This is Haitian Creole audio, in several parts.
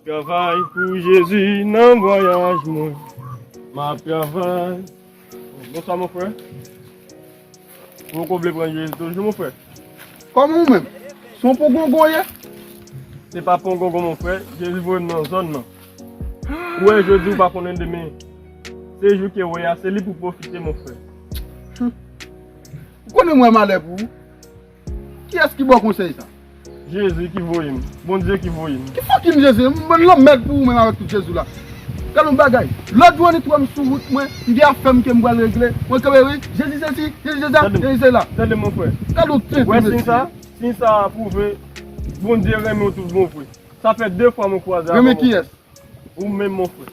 Travay pou Jezi nan vwayaj mwen. Map travay. Bonsoir mon frère. Poko vle pran jezi toujou mon frè. Koman ou menm? Se yon pongongon ou ye? Se pa pongongon mon frè, jezi voye m nan zòn nan. Ou wè jodi ou pa konnen demen. Se jou ke ou wè a se li pou pwofite mon frè. Ou konnen m wè malè pou ou. Kiyes ki baw konsey sa? Jezi ki voyem. Bondye ki voyem. Ki fucking Jezi? M bann lanmèd pou ou menm avèk tout Jezi w la. Gad yon bagay. Lòt jou an li twèm sou wout mwen, m gen afèm kem pral regle, mwen kanpe wi, Jezi sesi, Jezi sesa, Jezi sela. Tande mon frè. Gad yon tenten mesye. Wè siy sa? Siy sa a pwouve Bondye renmen w tout bon vre. Sa fè 2 fwa mwen kwaze avè w mon frè. Renmen kiyes? Ou menm mon frè.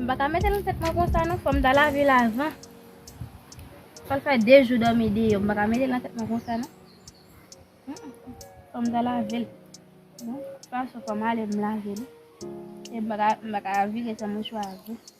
M pa ka mete nan tèt mwen konsa non, fòm ta lave l avan. Sa l fè 2 jou dòmi deyò, m pa ka mete nan tèt mwen konsa non. Fòm ta lave l. Bon, fòm ale m lave li. M pa ka vire san mouchwa a.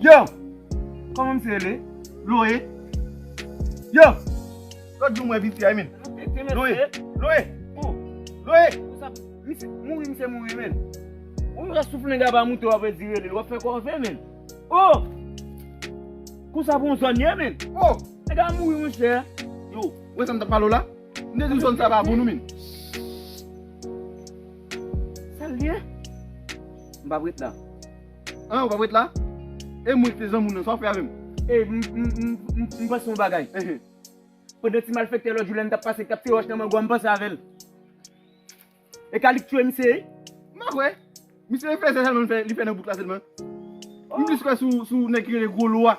Yo! Koman misye rele? Loe? Yo! Lòt jou mwen vin si aymin. Loe! Loe! Loe! Misye mouri misye mouri men. Ou yon ras soufle nga ba moute wap redi rele. Wap fè kòve men. Oh! Kou sa pou yon zòn ye men. Oh! Nga mouri mwen chè. Yo! Wè sa mta palo la? Mte di zòn sa pa pou nou men. Sal ye? Mpa vret la. An ou pap ret la? E mwen ki te zanmi w nan, sa w fè avè m? E m panse yon bagay. Pandan ti malfèktè lòt jou la n tap pase kap tire wòch nan mango a m panse avè l. E ka li k touye misye wi. M pa kwè. Misye fè zè sèlman li fè nan bouk la sèlman. M plis kwè sou nèg ki rele Gwo Lwa.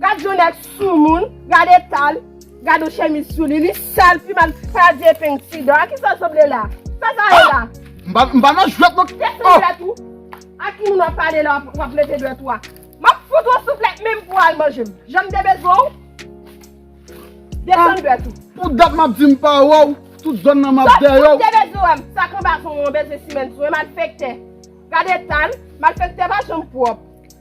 Gad yon nèg soumoun, gad etal, gad yon chemiz sou li, li sal, pi mal kraze epeng ti dan. A ki sa l sanble la? Sa sa ye la? M pa nan jwèt non. Kè san jwèt ou? A ki moun w ap pale la w ap leve dwèt ou a? M ap fout ou yon souflèt menm pou w al manje m. Jan m te bezwen w? Desann dwèt ou. Pou dat m ap di m pa wè w, tout zòn nan m ap dèyè w. Tout moun te bezwen wè m. Sa k anba son w an bezwen simen sou yo, malfèktè. Gad etal, malfèktè pa janm pwòp.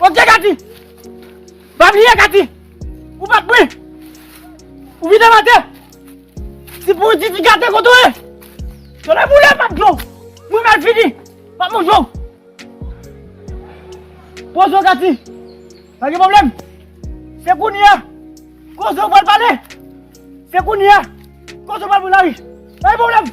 Ok Katy! Pa bliye Katy! Ou pa pri! Ou vide mate! Ti pouri ti ti gate kote ou ye! Tole boule pap dlo! Mwen mal fini! Pap manje ou! Poze ou Katy! Pa gen pwoblèm! Se kounye a! Koze ou pral pale! Se kounye a! Koze ou pral pran lari! Pa gen pwoblèm!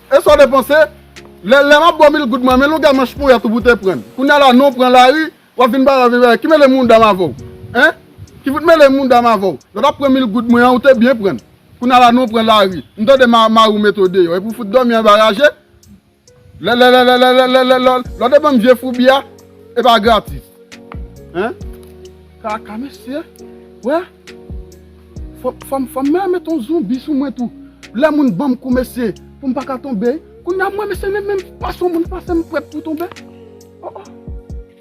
E sa w te panse? Lè m ap bo mil goud mwen men longue manch poyèt ou pou te pran. Kounya la non w pran lari w ap vin bay w ap vin bay. Ki mele mounda m avè w? Hein? Ki fout mele mounda m avè w? Lè w t ap pran mil goud mwen an ou te byen pran l. Kounya la non w pran lari. M tande mari w mete w deyò epi w fout dòmi anba raje? Lelelelelelelelelel lè w te ban m vye foubi a e pa gratis. Hein? Kaka mesye we Fom fom mwen met yon zonbi sou mwen tou Le moun banm kou mesye poum paka tonbe Kounya mwen mesye menm menm pa son moun pase m pret pou tonbe Oh oh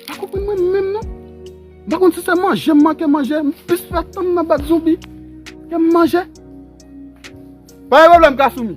Pa konprann mwen menm non M pa konn si se manje m manke manje M plis fè tan m nan bat zonbi ke m manje Pa gen pwoblèm Kasumi.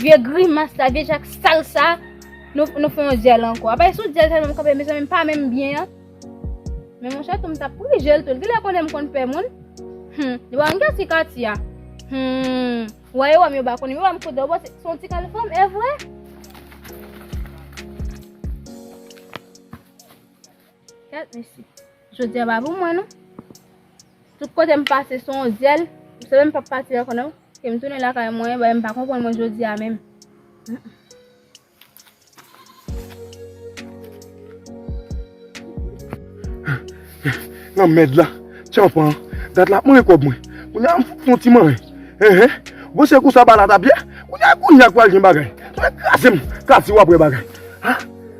Vye grimas sa, vye jak sal sa, nou fè yon dyèl ankò. Apa e sou dyèl sa nou kanpe mezanmi m pa menm byen an. Men mon chè tou m tap prijel tou. Li genlè konnen m konn pè moun. Hum, li pa konn ki ti kati a. Hum, wè yo wè m yo pa konnen. Yo wè m kote yo panse son ti kal fanm evre. Kèt mesye. Jodi a pa pou mwen non. Tout kote m pase son w zyèl. M sanble m pap pati ankò non. Ke m tounen lakay mwen, bagay m pa konprann mwen jodi a menm. Lanmèd la. Tyanpan an. Dat la ap manje kòb mwen. Kounya m fouti fon ti mare. Enhen. Bon se konsa ba la t ap ye. Kounya kounya k pral gen bagay. Mwen kraze m. Katie w ap wè bagay.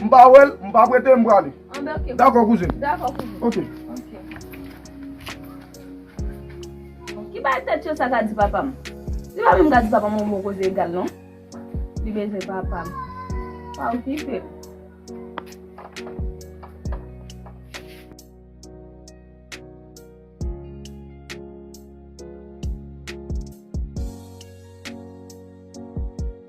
M pa wè l, m pa prete l, m prale. Anben ok. Dakò kouzin. Dakò kouzin. Ok. Ok. Ki bay tèt yo sa ka di papa m? Li pa menm ka di papa m yon bon koze egal non. Li bezwen papa m. Pa okipe l.